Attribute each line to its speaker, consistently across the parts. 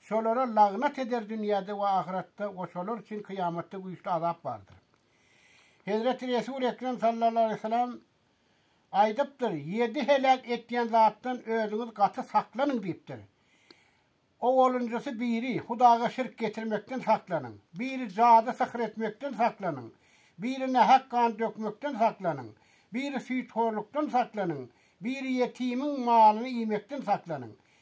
Speaker 1: Şolara lagnat eder dünýäde we ahyretde we şolar üçin kyýamatda güýçli azap bardyr. Hezreti Resul Ekrem sallallahu aleýhi we sellem aýdypdyr, Ýedi heläk etýän zatdan özüňiz gaty saklanyň diýipdir. Owalynjysy biri, Hudaga şirk getirmekden saklanyň. Biri, Jady syhyr etmekden saklanyň. Biri, Nähak gan dökmekden saklanyň. Biri, Süýthorlukdan saklanyň. Biri, Ýetimiň malyny iýmekden saklanyň.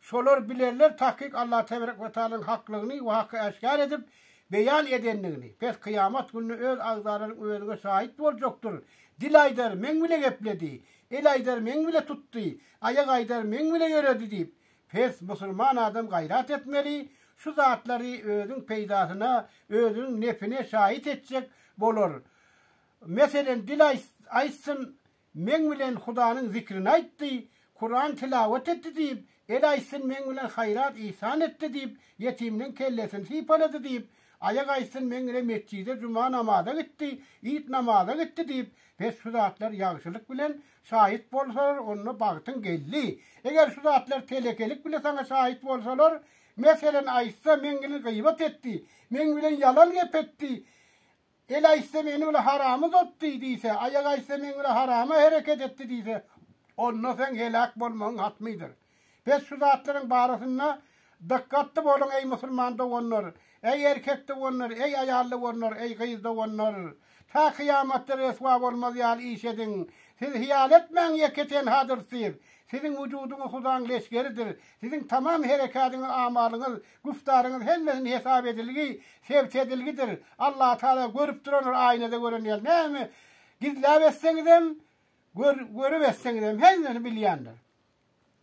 Speaker 1: Şolar bilerler takyk Allah teberek we taalanyň haklygyny we haky äşgär edip, beýan edendigini. Pes kyýamat gününe öz agzalaryň özüňe şaýyt boljakdyr. Dil aýdar, Meň bile gepledi. El aýdar, Meň bile tutdy. Aýak aýdar, Meň bile ýöredi diýip. Pes, musulman adam gaýrat etmeli, şu zatlary özüň peýdasyna, özüniň nefine şaýyt etjek bolar. Meselen, dil aýtsyn, Meň bilen Hudanyň zikrini aýtdy, Kuran tilawat etdi diýip, el aýtsyn, meň bilen haýrat-yhsan etdi diýip, ýetiminiň kellesini sypalady diýip, aýak aýtsyn, meň ile metjide juma namaza gitdi, it namaza gitdi diýip, pes şu zatlar ýagşylyk bilen şaýyt bolsalar, onda bagtyň geldi. Eger şu zatlar telekelik bile saňa şaýyt bolsalar, meselen, aýtsa, meň ile gybat etdi, meň bilen ýalan gep etdi, El aýtsa meni bile haram uzatdy diýse, aýak aýtsa meň bile harama hereket etdi diýse, onda seň heläk bolmagyň hatmydyr. Pes şu zatlaryň barasynda dykgatly boluň eý musulman doganlar, eý erkek doganlar, eý aýal doganlar, eý gyz doganlar. Ta kyýamatda reswa bolmaz ýaly iş ediň. Siz hyýal etmäň ýeke tenhadyr siz. Siziň wujudyňyz hudaň leşgeridir. Siziň tamam herekädiňiz amalyňyz Güftaryňyz hemmesini hesap edilgi, sebt edilgidir. Allah Taala görüp durandyr aýnada gören ýaly. Näme gizläp etseňizem, görüp etseňizem hemmesini bilýändir.